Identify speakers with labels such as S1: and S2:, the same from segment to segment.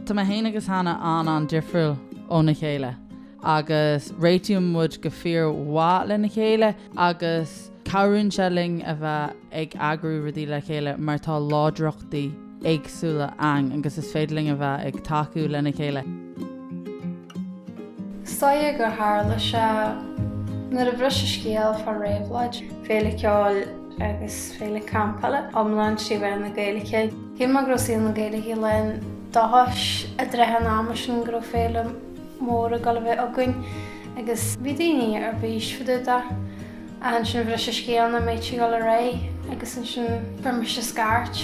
S1: Tá mé féin agus Hannah an-an-difriúil óna chéile agus réitíonn muid go fíormhaith lena chéile agus Cabhraíonn sé linn a bheith ag eagrú rudaí le chéile mar tá láidreachtaí éagsúla ann agus is féidir linn a bheith ag tacú lena chéile.
S2: Is dóigh gur tharla sé nuair a bhris an scéal fá Ravelóid. Féile ceoil agus féile campála iomlán trí mheán na Gaeilge. Cé go raibh saol na Gaeilge lán dóchais i dtrátha an ama sin go raibh féile mór ag dul a bheith againn agus bhí daoine ar bís fá dtaobh de. Ansin bhris an scéal nach mbeadh sé ag dul ar aghaidh agus ansin fuair mise scairt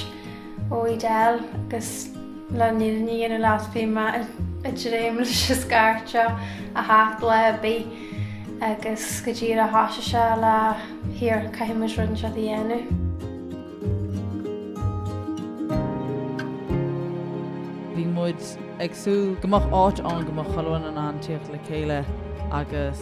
S2: ó Edel agus leis an fhírinne a dhéanamh leat bhí mé ag dréim leis an scairt seo a theacht lá ar bith agus go díreach thoisigh sé le here caithfidh muid rud anseo a
S1: dhéanamh. Bhí muid ag súil go mbeadh áit ann go mbeadh chuile dhuine in ann tíocht le chéile agus.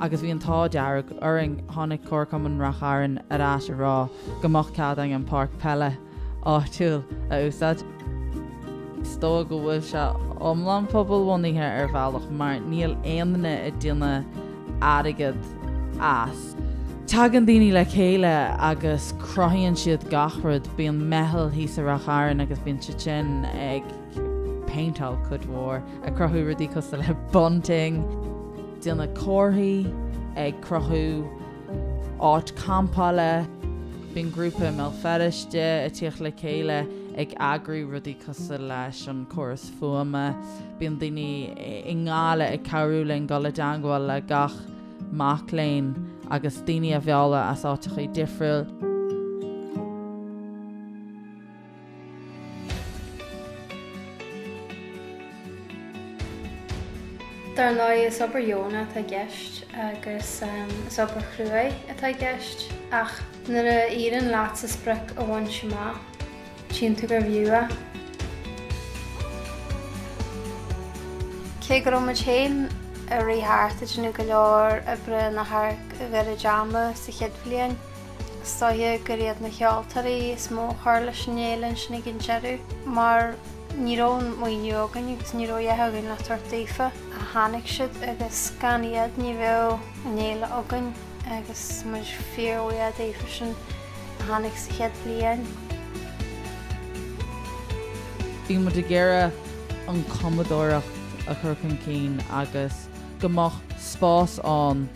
S1: agus bhí an t-ádh dearg orainn, tháinig Comharchumann Ráth Chairn ar ais a rá go mbeadh cead againn an páirc peile áitiúil a úsáid. Is dóigh go bhfuil sé iomlán pobalbhunaithe ar bhealach mar níl aon duine ag déanamh airgead as. Tagann daoine le chéile agus cruthaíonn siad gach rud, bíonn meitheal thíos i Ráth Chairn agus bíonn siad sin ag. péinteáil cuid mhór, ag cruthú rudaí cosúil le bunting. déanamh comharthaí, ag cruthú áit campála. Bíonn grúpa i mBéal Feirste ag tíocht le chéile ag eagrú rudaí cosúil leis an córas fuaime. Bíonn daoine i nGaillimh ag cabhrú linn dul i dteangmháil le gach mac léinn agus daoine a mhealladh as áiteachaí difriúil.
S2: Dar ndóigh, is obair dheonach atá i gceist agus is obair chruaidh atá i gceist ach nuair a éiríonn leatsa sprioc a bhaint amach, tchíonn tú gurbh fhiú é. Cé go raibh muid féin ag rith thart ag déanamh go leor oibre in adharc a mhéad ama sa chéad bhliain, Is dóiche gur iad na ceoltóirí is mó a chur leis an fhéile ansin ag an deireadh mar ní raibh an maoiniú againn agus ní raibh a dhath againn le tabhairt daofa. Tháinig siad agus gan iad ní bheadh an fhéile againn agus muid fíorbhuíoch daofa sin a tháinig sa chéad
S1: bhliain. Bhí muid ag iarraidh an chumadóireacht a chur chun cinn agus go mbeadh spás ann,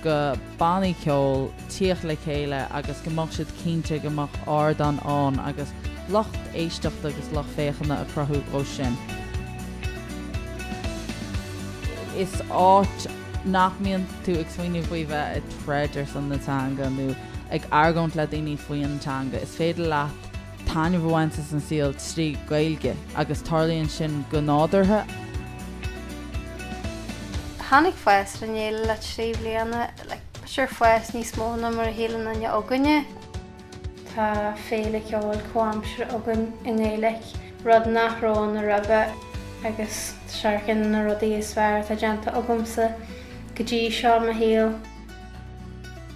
S1: do bhannaí ceoil tíocht le chéile agus go mbeadh siad cinnte go mbeadh ardán ann agus lucht éisteachta agus lucht féachana a chruthú dhó sin. Is áit nach mbíonn tú ag smaoineamh faoi bheith ag troid ar son na teanga nó ag argóint le daoine faoi an teanga, is féidir leat, taitneamh a bhaint as an saol trí Ghaeilge agus tarlaíonn sin go
S2: nádúrtha. Tháinig fás ar an fhéile le trí bliana, sure fás níos mó ná mar a shíl aon duine againne. Tá féile cheoil comhaimseartha againn i nGaeilge, rud nach raibh ann roimhe agus sure ceann de na rudaí is fearr atá déanta agamsa go dtí seo i mo shaol.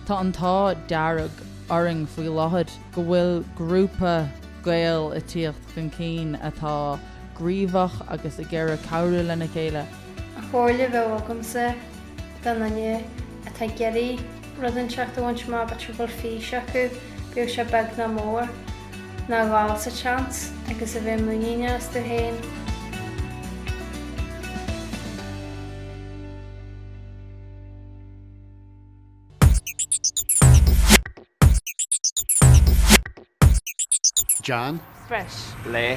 S1: Tá an t-ádh dearg orainn faoi láthair. go bhfuil grúpa Gael ag tíocht chun cinn atá gníomhach agus ag iarraidh cabhrú lena chéile. An chomhairle a
S2: bheadh agamsa do dhuine atá ag iarraidh rud inteacht a bhaint amach nó a bhfuil fís acu, bíodh sé beag ná mór, ná a dhul sa tseans agus a bheith muiníneach astu féin.
S3: John. Breis. Le.